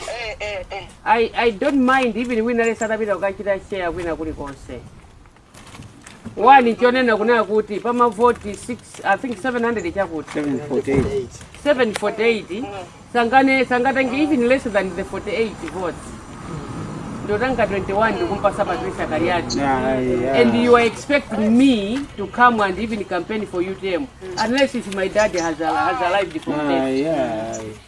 Eh, eh, eh. I, I don't mind even wina lesa atapita kukachita share kwina kulikonse wani chonena kunena kuti pamavoti 6 i think 700 chakuti 748 748 sangane sangatenge even less than the 48 votes ndotanga 21 ndikumpasa patricia kaliati Yeah, yeah. and you are expecting me to come and even campaign for utm unless if my dad has, has arrived from Ah, there yeah.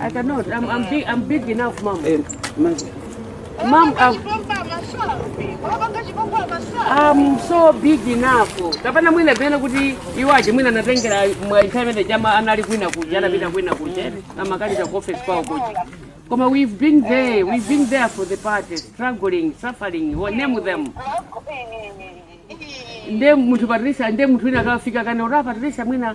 I cannot. I'm, I'm, big, I'm big enough, mom. Hey, mom. Mom, I'm, I'm so big enough. Kapena mwina pena kuti iwaje mwina natengera mwa internet ya amayi anali kwina kuja anapita kwina kuja amakalipa ku office kwao kuja. Koma we've been there, we've been there for the party, struggling, suffering, we name them. Nde munthu Patricia, nde munthu wina akafika kana ora Patricia mwina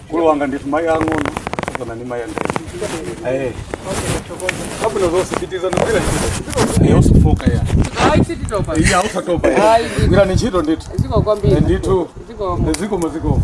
Mkulu wanga nditu mayi ang'ono kapena ndi mayi andani. Eh, Kapena zonse pitirizani kugwira ntchito. eh, usafooke iyayi. Ayi sititopa. Iya usatopa. Ayi. Gwirani ntchito ndithu. Zikomo kwambiri. Ndithu. Ziko Zikomo zikomo.